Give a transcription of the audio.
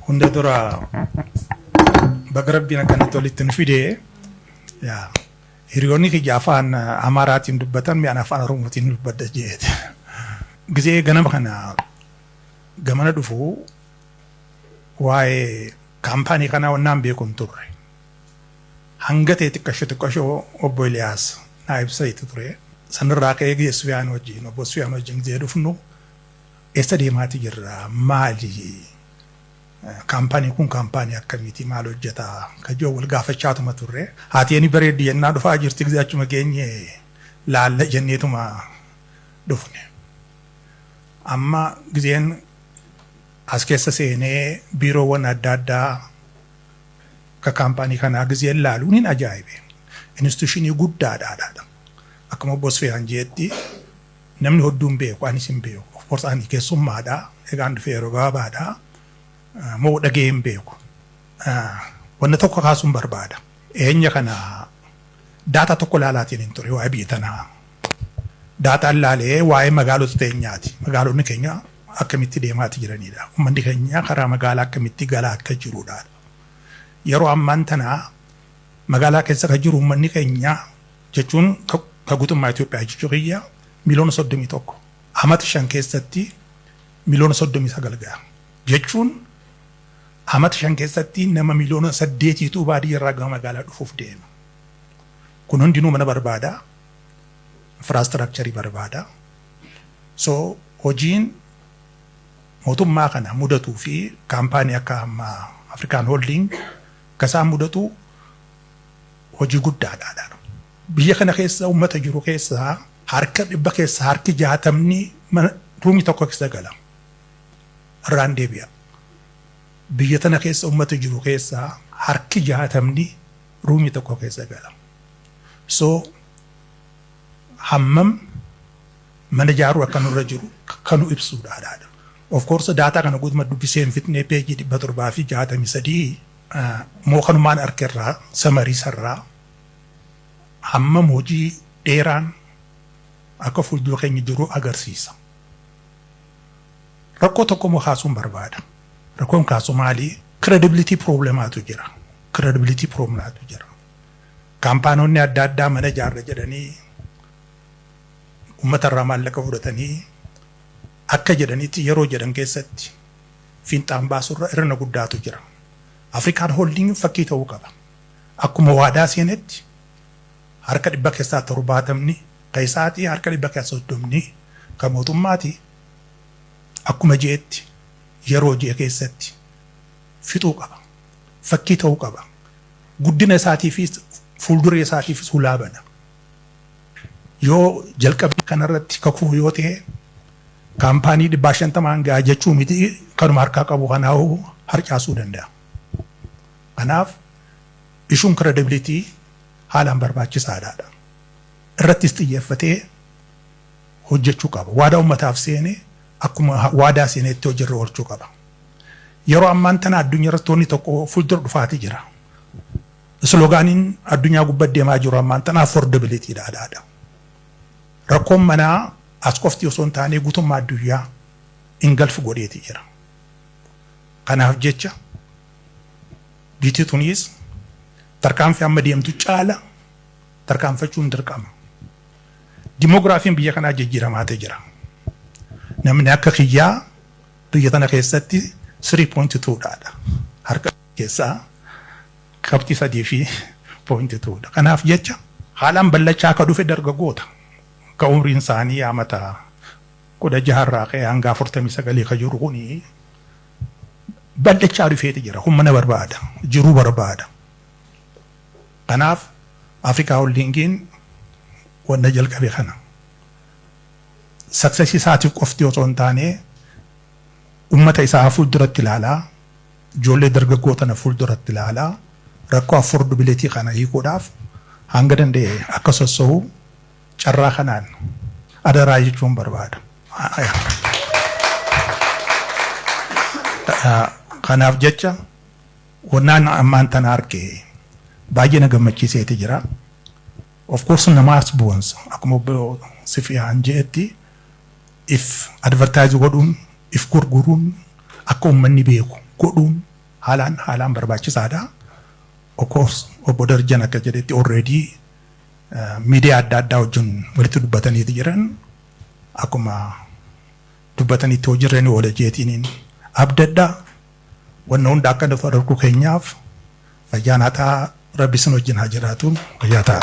Hunda dura baga rabbiin akkanatti walitti nu fide yaa hiriyoonni kiyya afaan amaaraatiin dubbatan mi'aan afaan oromootiin dubbadha jeete. Gizee ganama kana gamana dhufu waa'ee kaampaanii kanaa wannaan beeku hin turre. Hanga ta'e xiqqashoo xiqqashoo obbo Iliyaas naa ibsa itti ture. Sanirraa ka'ee gizee Sufiyaan wajjin obbo Sufiyaan wajjin gizee dhufnu Eessa deemaati jirra? Maali? Kaampaanii kun kaampaanii akkamiiti? Maal hojjeta? Kan jedhu wal gaafachaatuma turre. Haati eni bareeddi jennaa dhufaa jirti gisee achuma geenye laalla jenneetuma dhufne. Amma giseen as keessa seenee biiroowwan adda addaa akka kaampaanii kanaa giseen laalu nin ajaa'ibe. Instituushinii guddaadha. Akkuma obbo Sfeyaan jeetti Namni hodduu hin beeku, anis hin beeku. Of course ani keessummaadha, egaan dhufee yeroo gabaabaadha. Moo dhaga'ee hin beeku. Wanna tokko kaasuun barbaada. Eenya kana daataa tokko laalaatiin hin ture waa'ee biyya tanaa. Daataan laalee waa'ee magaalota teenyaati. Magaalonni keenya akkamitti deemaati jiranidha. Ummanni keenya karaa magaalaa akkamitti galaa akka jirudha. Yeroo ammaan tana magaalaa keessa kan jiru ummanni keenya jechuun ka guutummaa Itoophiyaa jechuu kiyya miliyoona 31 amata shan keessatti miliyoona 39 ga'a jechuun amata shan keessatti nama miliyoona saddeetiitu baadiyyaarraa gama magaalaa dhufuuf deema. Kun hundinuu mana barbaada, infraastiraakcharii barbaada. So hojiin mootummaa kana mudatuu fi kaampaanii akka amma Afrikaan Holding akka isaan mudatu Hojii guddaadha dha. Biyya kana keessa uummata jiru keessaa harka dhibba keessaa harki jaatamni mana ruumii tokko keessa gala. Irraan deebi'a. Biyya tana keessa uummata jiru keessaa harki jaatamni ruumii tokko keessa gala. So hammam mana ijaaruu akka nurra jiru kan nu ibsuudha dha. Of course daataa kana guutuma dubbisee hin fixne peejii dhibba torbaa fi jaatamii sadii moo kanumaan arke irraa samarii sarraa hammam hojii dheeraan akka fuuldura keenya jiru agarsiisa. Rakkoo tokko immoo kaasuun barbaada. Rakkoon kaasu maali? Credibility problemaatu jira. Credibility problematu jira. Kaampaanoonni adda addaa mana ijaarra jedhanii uummata irraa maallaqa fudhatanii akka jedhanitti yeroo jedhan keessatti fiinxaan baasu irra irrna guddaatu jira. Afrikaan Holdingiin fakkii ta'uu qaba. Akkuma waadaa seenetti harka dhibba keessaa torbaatamni ka isaatii harka dhibba keessaa soddomni ka mootummaati akkuma je'etti yeroo je'e keessatti fixuu qaba. Fakkii ta'uu qaba. Guddina isaatiifis fuuldura isaatiifis hulaa bana. Yoo jalqabbii kana irratti kakuu yoo ta'e kaampaanii dhibbaa shantamaan ga'a jechuu miti kanuma harkaa qabu kanaa'uu harcaasuu danda'a. Kanaaf ishuun credibility haalaan barbaachisaadha. Irrattis xiyyeeffatee hojjechuu qaba. Waadaa ummataaf seene akkuma waadaa seenetti hojiirra oolchuu qaba. Yeroo ammaan tana addunyaa irratti wanni tokko fuuldura dhufaati jira. Isloogaaniin addunyaa gubbatti deemaa jiru ammaan tana affordability dha, adhaa dha. Rakkoon manaa as qofti osoo hin taanee gutummaa adduyyaa engulf godheeti jira. Kanaaf jecha biitii tuniis tarkaanfii amma deemtu caala tarkaanfachuun dirqama. Dimogiraafiin biyya kanaa jijjiiramaate jira. Namni akka kiyyaa biyya tana keessatti 3.2 dha. Harka keessaa qabxii 3 fi point 2 dha. Kanaaf jecha haalaan ballachaa akka dhufe dargagoota ka umriin isaanii amata 16 irraa ka'ee hanga 49 ka jiru kuni ballachaa dhufeeti jira. Kun mana barbaada, jiruu barbaada. Kanaaf Afrikaa Holdingiin wanna jalqabe kana. Success isaatiif qofti osoo hin taane ummata isaa fuulduratti ilaalaa Ijoollee dargaggoo tana fuulduratti ilaalaa rakkoo affordability kana hiikuudhaaf hanga danda'e akka sossohu carraa kanaan adaraa jechuun barbaada. Kanaaf jecha wannaan ammaan tana arge baay'ee na gammachiiseeti jira. Of course namaas boonsa. Akkuma obbo Sifiyaan je'etti if advertise godhuun, if gurguruun akka ummanni beeku godhuun haalaan haalaan barbaachisaadha. Of course Obbo Darajjan akka jedhetti already miidiyaa adda addaa wajjin walitti dubbataniiti jiran akkuma dubbatanitti hojiirra ni oola jeetiiniin abdadha. Wanna hunda akka nuuf argu keenyaaf fayyaan hataa rabbi isin wajjin haa jiraatu fayyaa ta'a.